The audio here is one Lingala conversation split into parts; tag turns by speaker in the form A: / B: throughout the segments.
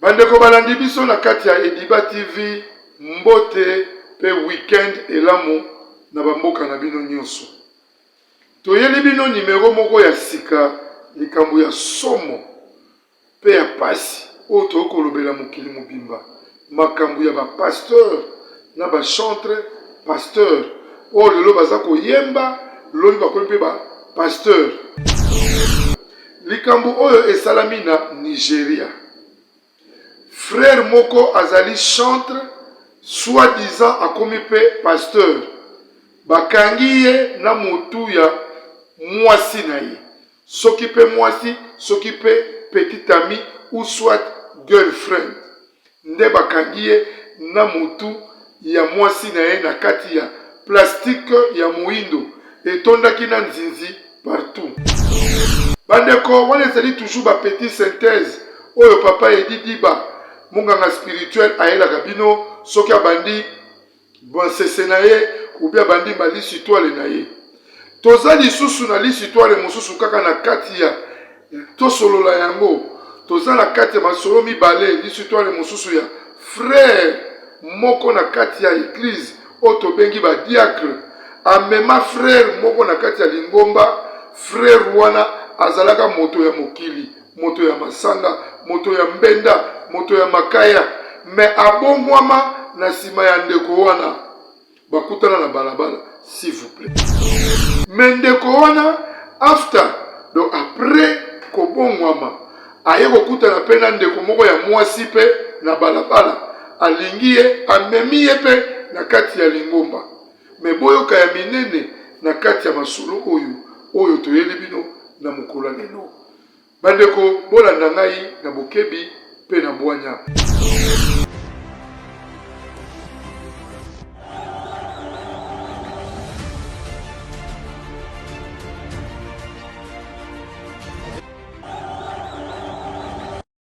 A: Bandeko balandi biso na kati ya Ediba TV, mbote pe week-end elamu na ba mboka na bino nionso. Toyeli bino numero moko ya sika, likambo ya somo pe ya pasi oyo tokoki kolobela mokili mobimba, makambo ya ba pasteurs na ba chantres pasteurs oyo lelo baza koyemba, lobi bakomi pe ba pasteurs. Likambo oyo esalami na Nigeria. Frère moko azali chantre soit disant akomi mpe pasteur. Bakangi ye na mutu ya mwasi na ye. Soki mpe mwasi, soki mpe petite amie ou soit girlfriend. nde bakangi ye na mutu ya mwasi na ye na kati ya plastique ya moyindo etondaki na nzinzi partout. Ba ndeko, wana ezali toujours ba petits synthèses oyo papa Eddy Diba, monganga spirituel ayelaka bino soki abandi. Bansese na ye ubi abandi ma lisitwale na ye. Toza lisusu na lisitwale mosusu kaka na kati ya tosolola yango. Toza na kati ya masolo mibale lisitwale mosusu ya frere moko na kati ya eglize oyo tobengi badiacre amema frere moko na kati ya lingomba. Frere wana azalaka moto ya mokili. moto ya masanga, moto ya mbenda, moto ya makaya, me abongwama na nsima ya ndeko wana bakutana na balabala s'il vous plait. Me ndeko wana after donc après kobongwama aye kokutana mpe na ndeko moko ya mwasi mpe na balabala, alingi ye, amemi ye mpe na kati ya lingomba. Me boyoka ya minene na kati ya masolo oyo oyo toyeli bino na mokolo ya lelo. Bandeko, bolanda ngai na bokebi mpe na bwanya.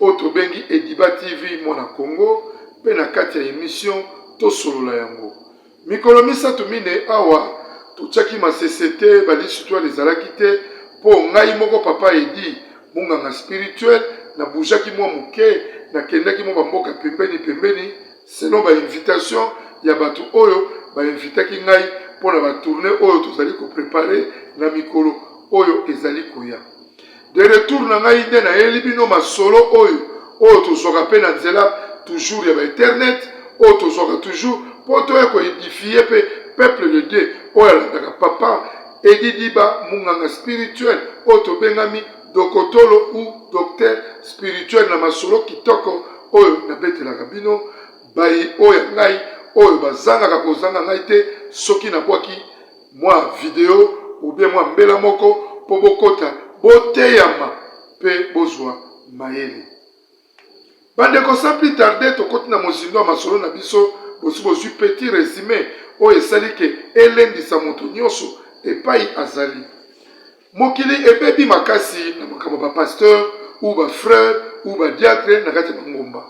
A: Oyo tobengi Ediba TV Mwana Kongo mpe na kati ya emission tosolola yango. Mikolo misato minei awa totiaki masese te, ba lisitoile ezalaki te mpo ngai moko Papa Eddy munganga spirituel na boujaki mwa moke nakendaki mwa bamboka pembeni pembeni selon ba invitation ya bato oyo ba invitaki ngai mpo na ba tourne oyo tozali ko prepare na mikolo oyo ezali koya. De retour na ngai nde nayeli bino masolo oyo oyo tozwaka mpe na nzela toujours ya ba internet oyo tozwaka toujours mpo toya ko edifier mpe peuple de Dieu oyo alandaka papa Eddy Diba munganga spirituel oyo tobengami dokotolo ou docteur spirituel na masolo kitoko oyo nabetelaka bino bayi oyo ya ngai oyo bazangaka kozanga ngai te soki nabwaki mwa video ou bien mwa mbela moko mpo bokota boteyama mpe bozwa mayele. Bandeko, sans plus tarder, tokoti na mozindo ya masolo na biso. Bosi bozwi petit resume oyo esali ke elendisa moto nyonso epai azali. Mokili ebebi makasi na makambo ba pasteur ou ba frère ou ba diacre na kati ya mangomba.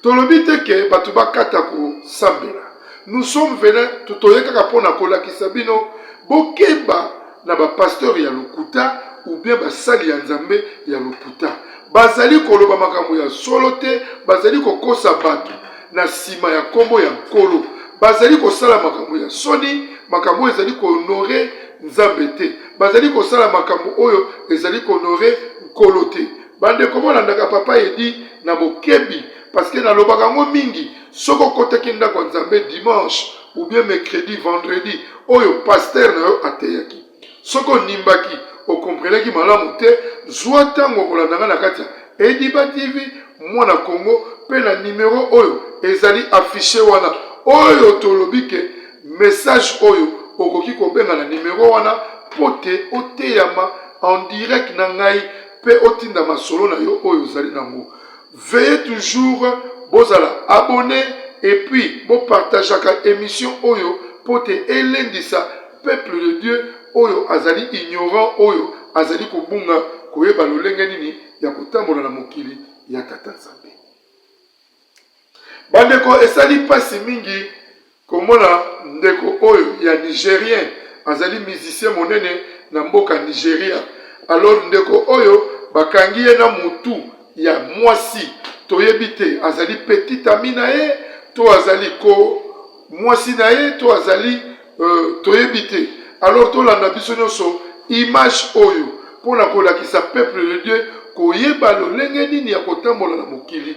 A: Tolobi te ke bato bakata kosambela. Nous sommes venus toye kaka mpo na kolakisa bino bokeba na ba pasteur ya lokuta ou bien basali ya Nzambe ya lokuta. Bazali koloba makambo ya solo te, bazali kokosa bato na nsima ya nkombo ya Nkolo. Bazali kosala makambo ya soni, makambo oyo ezali ko honore Nzambe te. bazali kosala makambo oyo ezali konore nkolo te bandeko bolandaka papa edi na bokebi parceke nalobaka yango mingi soki okotaki ndako ya nzambe dimanche ou bien mercredi vendredi oyo paster na yo ateyaki soki onimbaki okomprenaki malamu te zwa ntango okolandaka na kati ya ediba tv mwana kongo mpe na nimero oyo ezali afishe wana oyo tolobi ke Message oyo okoki kobenga na numero wana mpo te oteyama en direct na ngai mpe otinda masolo na yo oyo ozali na yango. Veuillez toujours bozala abonner et puis bo partageaka emission oyo mpo te elendisa peuple de Dieu oyo azali ignorant, oyo azali kobunga koyeba lolenge nini ya kotambola na mokili ya Tata Nzambe. Bandeko, esali mpasi mingi komona ndeko oyo ya Nigerien, azali musicien monene na mboka Nigeria. Alors, ndeko oyo bakangi ye na mutu ya mwasi, toyebi te azali petite amie na ye to azali ko mwasi na ye to azali euh, toyebi te. Alors tolanda biso nyonso image oyo mpo na kolakisa peuple de Dieu koyeba lolenge nini ya kotambola na mokili.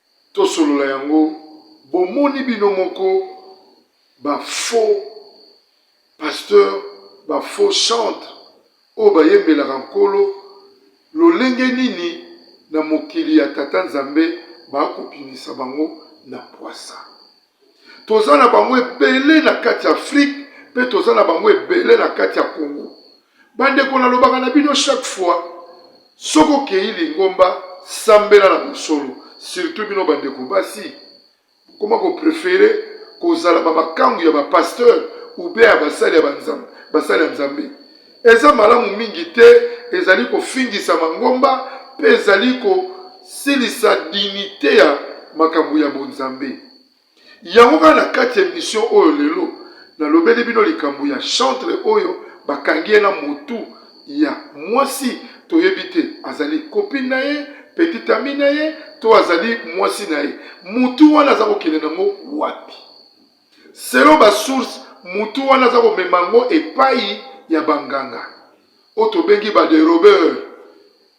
A: Tosolola yango bomoni bino moko ba faux pasteurs ba faux chantres oyo bayembelaka nkolo lolenge nini na mokili ya tata nzambe ba kobimisa bango na pwasa. toza na bango ebele na kati ya afrique mpe toza na bango ebele na kati ya congo bandeko nalobaka na bino chaque fois soki okei lingomba sambela na mosolo surtout bino bandeko basi koma koprefere kozala bamakangu ya bapasteur ube ya basali ya basali ya nzambe Eza malamu mingi te, ezali kofingisa mangomba mpe ezali kosilisa dignite ya makambo ya bonzambe. Yango kaka na kati ya emission oyo lelo, nalobeli bino likambo ya chantre oyo bakangi ye na motu ya mwasi toyebi te azali copine na ye, petite amie na ye to azali mwasi na ye. Motu wana aza kokende na yango wapi? Selon ba sources, mutu wana aza komema yango epayi ya ba nganga oyo tobengi ba derobeurs,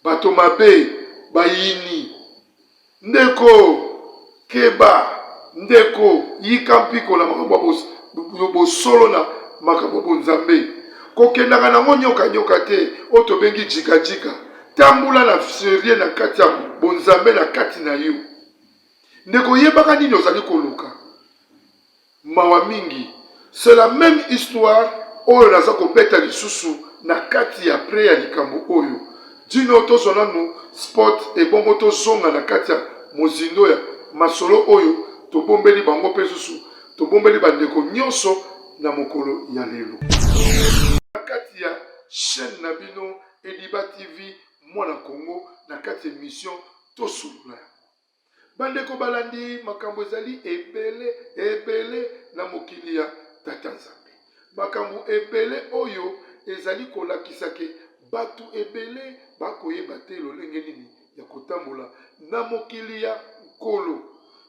A: bato mabe, bayini. Ndeko keba, ndeko yika mpiko na makambo ya bosolo na makambo ya bonzambe. Kokendaka na yango nyoka nyoka te oyo tobengi djika djika. Tambola na serieux na kati ya bonzambe na kati na yo. ndeko yebaka nini ozali koluka mawa mingi c'est la même histoire oyo naza kobeta lisusu na kati ya pre ya likambo oyo dino tozwa nanu spot ebongo tozonga na kati ya mozindo ya masolo oyo tobombeli bango mpe susu tobombeli bandeko nyonso na mokolo ya lelo na kati ya chaîne na bino ediba tv mwana congo na kati ya emission tosolola yango Bandeko balandi, makambo ezali ebele ebele na mokili ya Tata Nzambe. Makambo ebele oyo ezali kolakisa ke bato ebele bakoyeba te lolenge nini ya kotambola na mokili ya Nkolo.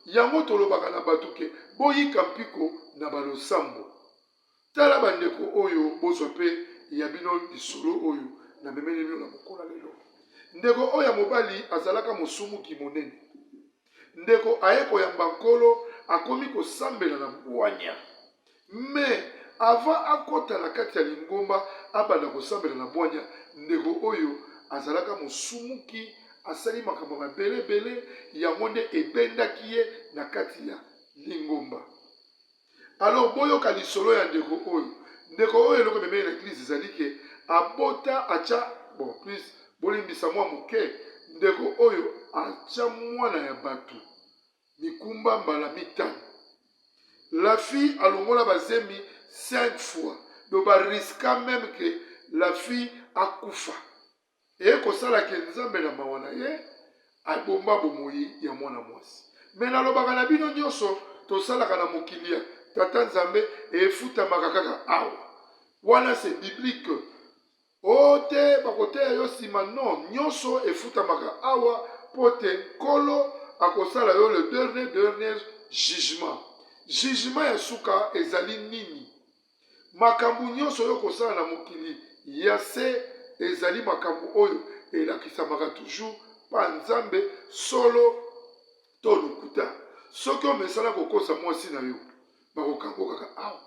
A: Yango tolobaka na bato ke boyika mpiko na balosambo. Tala bandeko oyo, bozwa pe ya bino lisolo oyo namemeli bino na mokola lelo. Ndeko oyo ya mobali azalaka mosumuki monene. Ndeko aye koyamba Nkolo, akomi kosambela na bwanya. Mais avant akota na kati ya lingomba abanda kosambela na bwanya, ndeko oyo azalaka mosumuki, asali makambo ya mabele bele, yango nde ebendaki ye na kati ya lingomba. Alors boyoka lisolo ya ndeko oyo. Ndeko oyo eloko ememeli na eglise ezali ke abota atia bon plus bolimbisa mua moke ndeko oyo atia mwana ya batu mikumba mbala mitano. La fille alongola bazemi 5 fois donc ba risqua meme ke la fille akufa. Eye kosala ke Nzambe na mawa na ye abomba bomoyi ya mwana mwasi. Mais nalobaka na bino nionso tosalaka na mokili ya Tata Nzambe efutamaka kaka awa. Wana c'est biblique. Oh te bakoteya yo sima non nionso efutamaka awa po te Nkolo akosala yo le dernier dernier jugement. Jugement ya suka ezali nini? Makambo nyonso oyo okosala na mokili ya se ezali makambo oyo elakisamaka toujours pa Nzambe, solo to lokuta. Soki omesana kokosa mwasi na yo, bakokango kaka awa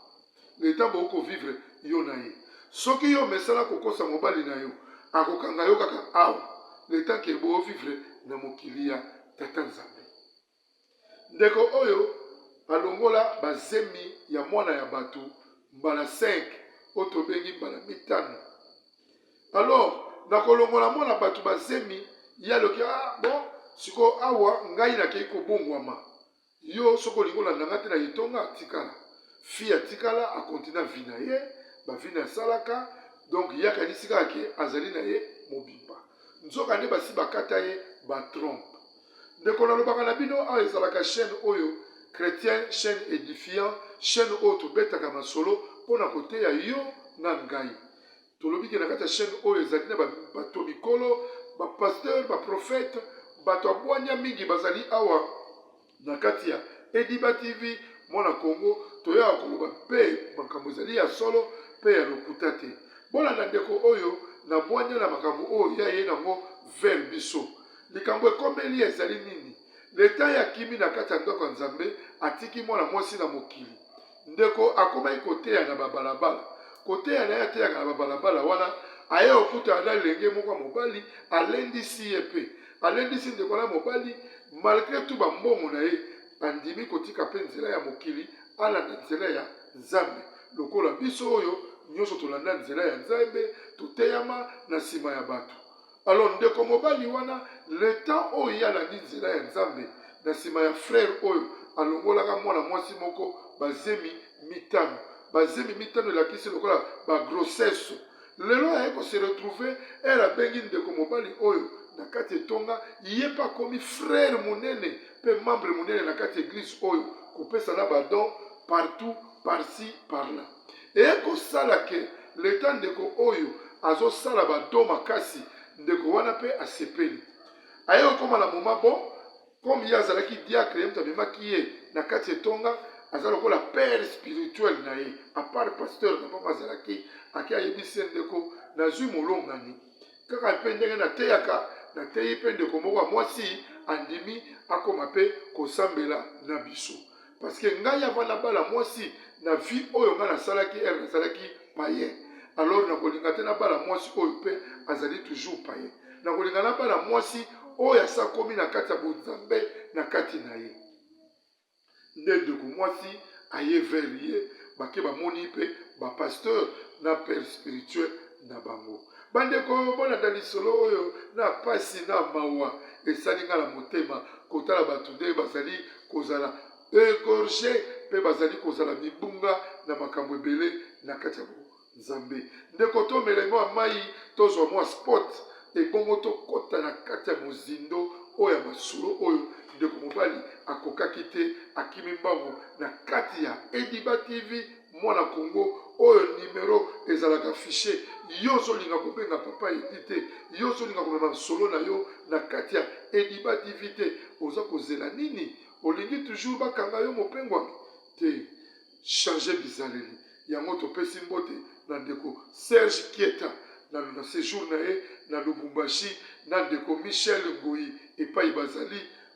A: le temps bokoki ko vivre yo na ye. Soki yo omesana kokosa mobali na yo, akokanga yo kaka awa le temps que bo vivre na mokili ya Tata Nzambe. Ndeko oyo alongola ba zemi ya mwana ya batu mbala cinq oyo tobengi mbala mitano alors na kolongola mwana batu ba zemi ye aloki ah bon sikoyo awa ngai nakei kobongwama yo soki olingi olanda ngai te na etonga atikala fille atikala akontina vi na ye bavi na asalaka donc ye akanisi kaka ke azali na ye mobimba nzoka nde basi bakata ye batrompe ndeko nalobaka na bino awa ezalaka chaîne oyo chrétien chaîne édifiant chaîne oyo tobetaka masolo mpo na koteya yo na ngai tolobi ke na kati ya chaîne oyo ezali na bato mikolo bapasteur baprofete bato ya bwanya mingi bazali awa na kati ya ediba tv mwana kongo toyaka koloba mpe makambo ezali ya solo mpe ya lokuta te bolanda ndeko oyo na bwanya na makambo oyo ya ye nango vers biso Likambo ekomeli ye ezali nini? Leta ye akimi na kati ya ndako ya Nzambe, atiki mwana mwasi na mokili. Ndeko akomaki koteya na babalabala. Koteya na ye ateyaka na babalabala wana, aye okutana na lenge moko ya mobali, alendisi ye mpe alendisi ndeko na mobali, malgre tout bambongo na ye, andimi kotika mpe nzela ya mokili, alanda nzela ya Nzambe. Lokola biso oyo nyonso tolanda nzela ya Nzambe, toteyama na nsima ya bato. Alors ndeko mobali wana le temps oyo ye alandi nzela ya Nzambe na nsima ya frère oyo alongolaka mwana mwasi moko bazemi mitano. Bazemi mitano elakisi lokola ba grossesse. Lelo aye ko se retrouver ere abengi ndeko mobali oyo na kati etonga, ye mpe akomi frère monene mpe membre monene na kati eglise oyo, kopesa na badon partout par ci par là. ekosala ke leta ndeko oyo azosala ba don makasi ndeko wana pe asepeli aye kokoma na moma bon comme ye azalaki diacre ye moto amemaki ye na kati ya etonga aza lokola père spirituel na ye apart pasteur na bango azalaki ake ayebisi ye ndeko nazwi molongani kaka mpe ndenge nateyaka nateyi mpe ndeko moko ya mwasi andimi akoma mpe kosambela na biso parce que ngai avant nabala mwasi na vie oyo ngai nasalaki ere nasalaki payen alors nakolinga te nabala mwasi oyo mpe azali toujours payen nakolinga nabala mwasi oyo asakomi na kati ya bonzambe na kati na ye nde ndeko mwasi aye vers ye bake bamoni mpe bapasteur na père spirituel na bango. Bandeko, bolanda lisolo oyo na pasi na mawa. Esali nga na motema kotala bato nde bazali kozala egorge mpe bazali kozala mibunga na makambo ebele na kati ya Nzambe. Ndeko, tomela mwa mai, tozwa mwa spot, ebongo tokota na kati ya mozindo oyo ya masolo oyo ndeko mobali akokaki te, akimi mbangu na kati ya Ediba TV. mwana congo oyo numero ezalaka affiche yo ozolinga kobenga papa edi te yo ozolinga komema masolo na yo na kati ya ediba tv te oza kozela nini olingi toujours bakanga yo mopengwami te change bizaleli yango topesi mbote na ndeko serge kieta na, na sejour na ye na lubumbashi na ndeko michel ngoi epai bazali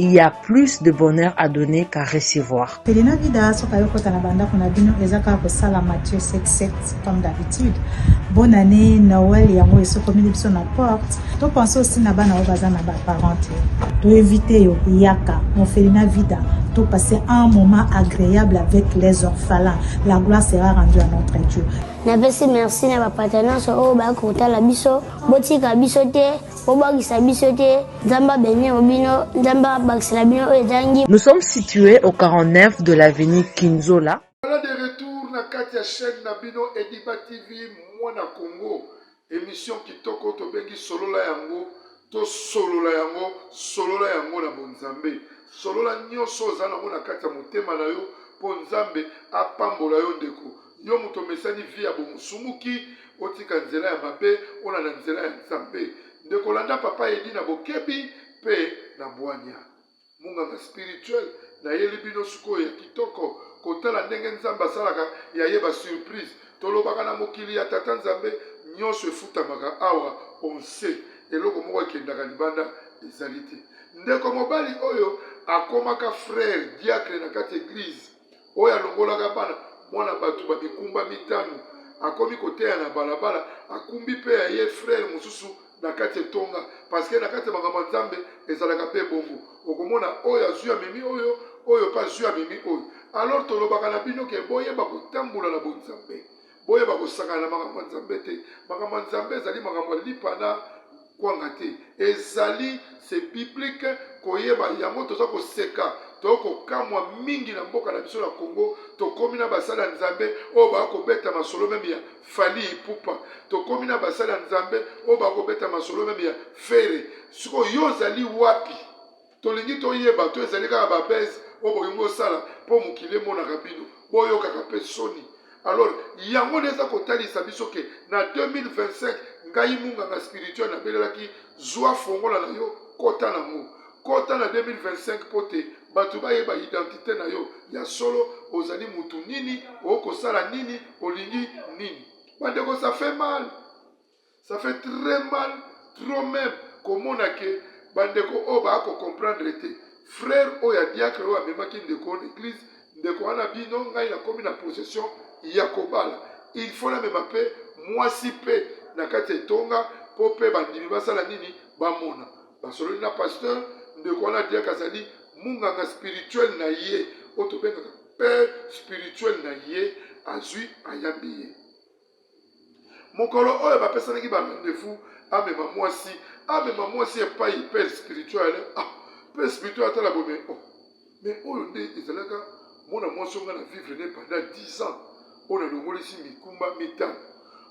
B: il y a plus de bonheur à donner qu'à recevoir. Elina Vida soka
C: yo kota na banda kuna bino eza kaka kosala Mathieu 77 comme d'habitude. Bonne année Noël yango esokomi biso na porte. To pense aussi na bana oyo baza na ba parents te. To éviter yo yaka mon Felina Vida to passer un moment agréable avec les orphelins. La gloire sera rendue à notre Dieu. Napesi merci
D: na ba partenaires oyo bakotala biso botika biso te Bobangisa biso te, Nzambe abeni yo bino, Nzambe abakisela bino oyo ezangi. Nous sommes situes
B: au 49 de l'avenue Kinzola. Voilà de retour
A: na kati ya chaîne na bino Ediba TV mwana Congo emission kitoko tobengi solola yango to solola yango solola yango na bonzambe solola nioso oza nango na kati ya motema na yo po nzambe apambola yo ndeko Yo moto omesani vie ya bomusumuki, otika nzela ya mabe, olanda nzela ya Nzambe. Ndeko landa papa Eddy na bokebi pe na bwanya. Munganga spirituel nayeli bino sikoyo ya kitoko kotala ndenge Nzambe asalaka ya ye ba surprise. Tolobaka na mokili ya tata Nzambe nionso efutamaka awa on sait eloko moko ekendaka libanda ezali te. Ndeko mobali oyo akomaka frère diacre na kati eglise oyo alongolaka bana mwana bato ba mikumba mitano akomi koteya na balabala akumbi mpe ya ye frere mosusu na kati etonga parceke na kati ya makambo ya nzambe ezalaka mpe bongo okomona oyo azwi amemi oyo oyo mpe azwi amemi oyo alors tolobaka na bino ke boyeba kotambola na bonzambe Boyeba kosakana na makambo ya Nzambe te. Makambo ya Nzambe ezali makambo ya lipa na kwanga te, ezali se biblique koyeba yango. Toza koseka to kokamwa mingi na mboka na biso na Congo, tokomi na basali ya Nzambe oyo baa kobeta masolo meme ya Fally Ipupa, tokomi na basali ya Nzambe oyo baa kobeta masolo meme ya Ferre. Sikoyo yo ozali wapi? tolingi toyeba to ezali kaka babese oyo bolingi kosala mpo mokili emonaka bino boyokaka mpe soni alors yango nde eza kotalisa biso ke na 2025 ngai munganga spirituel nabelelaki zwa fongola na yo kota nango kota na 2025 mpo te bato bayeba identite na yo ya solo ozali motu nini okosala nini olingi nini bandeko ça fait mal ça fait très mal trop même komona ke bandeko oyo baya kocomprendre te frère oyo ya diacre oyo amemaki ndeko na église ndeko wana bino ngai nakomi na possession ya kobala il faut namema mpe mwasi mpe na kati ya etonga mpo mpe bandimi basala nini bamona basololi na pasteur ndeko wana diacre azali munganga spirituel na ye oyo tobengaka père spirituel na ye azwi ayambi ye mokolo oyo bapesanaki ba rendez-vous amema mwasi amema mwasi epai père spirituel ah, père spirituel atala boye mais oh mais oyo nde ezalaka mwana mwasi onga na vivre ne pendant 10 ans oyo nalongolisi mikumba mitano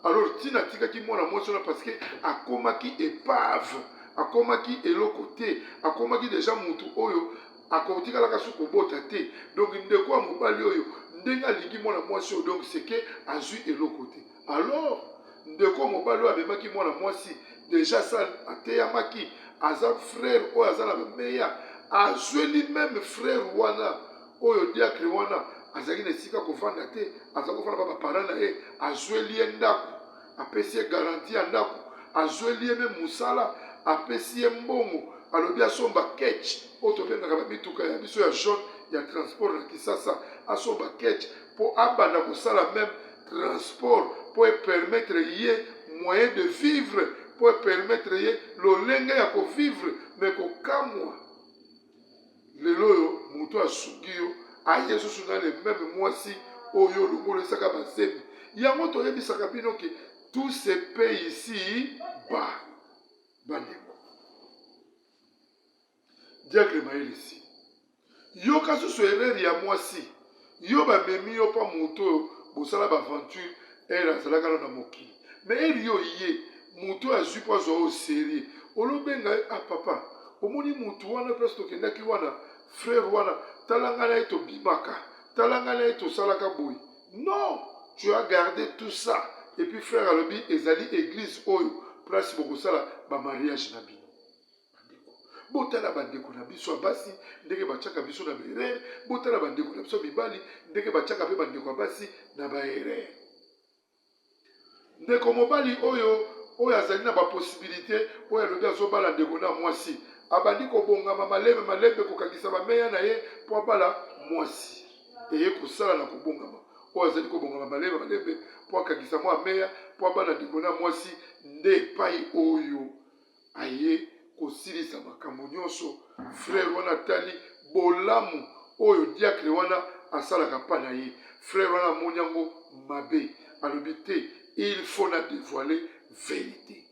A: alors ntina atikaki mwana mwasi wana parce que akomaki epave akomaki eloko te akomaki deja motu oyo akotikalaka soki kobota te donc ndeko ya mobali oyo ndenge alingi mwana mwasi oyo donc seke azwi eloko te alors ndeko mobali oyo amemaki mwana mwasi deja sa ateyamaki aza frère oyo aza na bameya azweli meme frère wana oyo diacre wana azalaki na esika kofanda te aza kofanda ba baparent na ye azweli ye ndako apesi ye garanti ya ndako azweli ye meme mosala apesi ye mbongo alobi asomba ketch oyo tobengaka bamituka ya biso ya jaune ya transport na kisasa asomba ketch mpo abanda kosala meme transport mpo epermettre ye moyen de vivre mpo epermettre ye lolenge ya kovivre me kokamwa lelo oyo moto asungi yo aye lisusu na le meme mwasi oyo olongolesaka bazemi yango toyebisaka bino ke tout se paye ici ba bandeko diacle mayelisi yoka susu erreur ya mwasi Yo ba memi yo pa moto oyo bosala ba aventure heure azalaka na na mokili mais heure yo oye moto oyo azui po azua oyo serieux olo benga ye ah papa omoni moto wana place tokendaki wana frère wana tala nga na ye tobimaka tala nga na ye tosalaka boye non tu as garde tout ça et puis frère alobi ezali eglise oyo place bokosala ba mariage na bino Bandeko, botala bandeko na biso ya basi ndenge batiaka biso na baerere. Botala bandeko na biso ya mibali ndenge batiaka mpe bandeko ya basi na baerere. Ndeko mobali oyo oyo azali na baposibilite oyo alobi azobala ndeko na mwasi abandi kobongama malembe malembe kokangisa bameya na ye mpo abala mwasi eye kosala na kobongama oyo azali kobongama malembe malembe mpo akangisa mwa meya mpo abala ndeko na mwasi nde epai oyo aye kosilisa makambo nyonso. Frere wana atali bolamu oyo diakre wana asalaka pa na ye. Frere wana amoni yango mabe, alobi te il faut na devoile verite.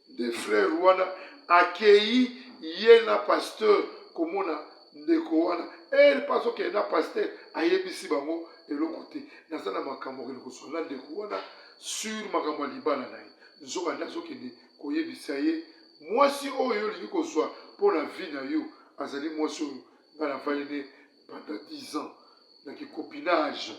A: Nde frere wana akei ye na pasteur komona ndeko wana ere mpe azokende na pasteur ayebisi bango eloko te. Naza na makambo okende koswana ndeko wana sur makambo ya libala na ye. Nzokande azokende koyebisa ye, Mwasi oyo yo olingi kozwa mpo na vie na yo azali mwasi oyo nga navandi ne pendant 10 ans na ki copinage,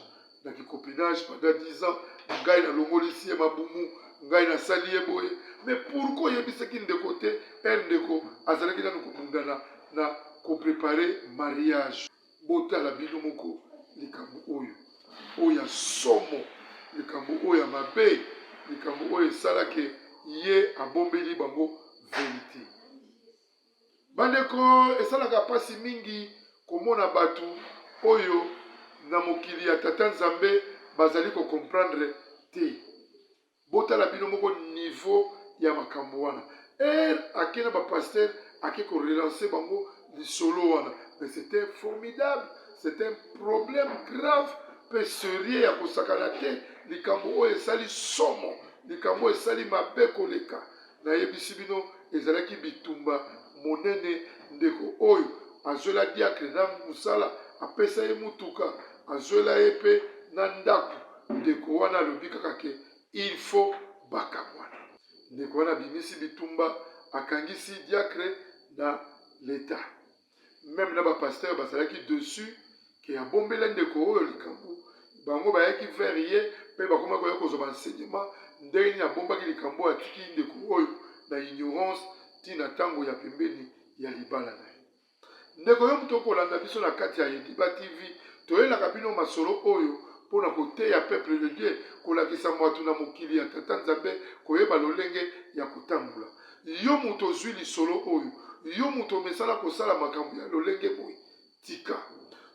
A: na ki copinage pendant 10 ans, ngai nalongolisi ye mabumu, ngai nasali ye boye. Mais pourquoi oyebisaki ndeko te? Heure ndeko azalaki nanu kobundana na ko preparer mariage. Botala bino moko likambo oyo oyo ya somo, likambo oyo ya mabe, likambo oyo esalaki ye abombeli bango verite. Bandeko, esalaka mpasi mingi komona bato oyo na mokili ya Tata Nzambe bazali kokomprendre te. Botala bino moko niveau ya makambo wana. Heure ake na ba pasteur ake ko relancer bango lisolo wana. Mais c'était formidable, c'est un problème grave pe serieux ya kosakana te, likambo oyo esali somo, likambo oyo esali mabe koleka. Nayebisi bino, ezalaki bitumba monene. Ndeko oyo azwela diakre na mosala, apesa ye motuka, azwela ye pe na ndako. Ndeko wana alobi kaka ke il faut bakabwana. Ndeko wana abimisi bitumba, akangisi diakre na l'Etat. meme na ba pasteur bazalaki dessus ke abombela ndeko oyo likambo bango bayaki vers ye mpe bakomaki koya kozwa baenseignement ndenge nini abombaki likambo oyo atiki ndeko oyo na ignorance ti na ntango ya pembeni ya libala na ye ndeko yo moto okolanda biso na kati ya ediba tv toyelaka bino masolo oyo mpo na koteya peuple de dieu kolakisa moto na mokili ya tata nzambe koyeba lolenge ya kotambola Yo moto ozwi lisolo oyo, yo moto omesana kosala makambo ya lolenge boye, tika.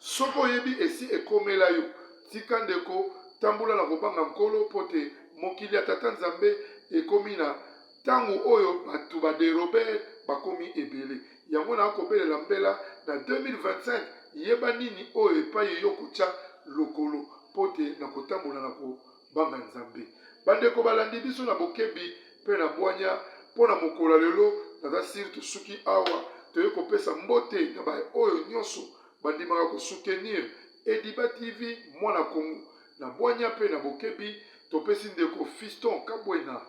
A: Soki oyebi esi ekomela yo, tika ndeko, tambola na kobanga Nkolo, mpo te mokili ya Tata Nzambe ekomi na ntango oyo bato ba derober bakomi ebele. Yango naa kobelela mbela na 2025, yeba nini oyo epai yo okotya lokolo, mpo te na kotambola na ko. Banga Nzambe. Bandeko balandi biso na bokebi mpe na bwanya mpo na mokolo ya lelo, naza sire tosuki awa. Toye kopesa mbote na baye oyo nyonso bandimaka kosutenir Ediba TV Mwana Kongo. Na bwanya mpe na bokebi, topesi ndeko Fiston Kabwena,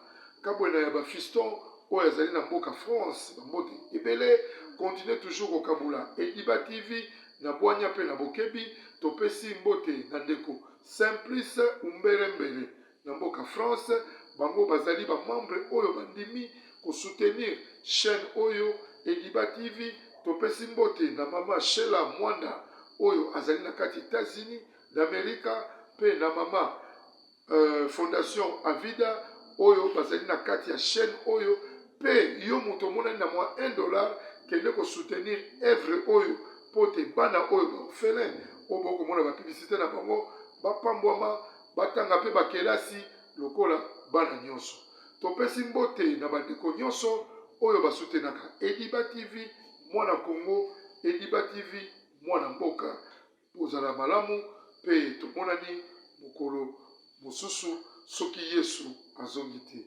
A: Kabwena ya ba Fiston, oyo azali na mboka France, bambote ebele. Continuez toujours kokabola Ediba TV na bwanya mpe na bokebi. Topesi mbote na ndeko Simplice Umbere Mbere na mboka France, bango bazali ba membre oyo bandimi ko soutenir chaine oyo Ediba TV. Topesi mbote na mama Shela Mwanda oyo azali na kati Etats-Unis d'America mpe na mama euh, Fondation Avida oyo bazali na kati ya chaine oyo mpe yo moto omonani na mwa 1 dollar kende ko soutenir evre oyo mpo te bana oyo ba orphelins oyo bokomona ba publicite na bango bapambwama, batanga mpe bakelasi lokola bana nyonso. Topesi mbote na bandeko nyonso oyo basutenaka Ediba TV, Mwana Congo, Ediba TV, Mwana Mboka. Bozala malamu mpe tomonani mokolo mosusu soki Yesu azongi te.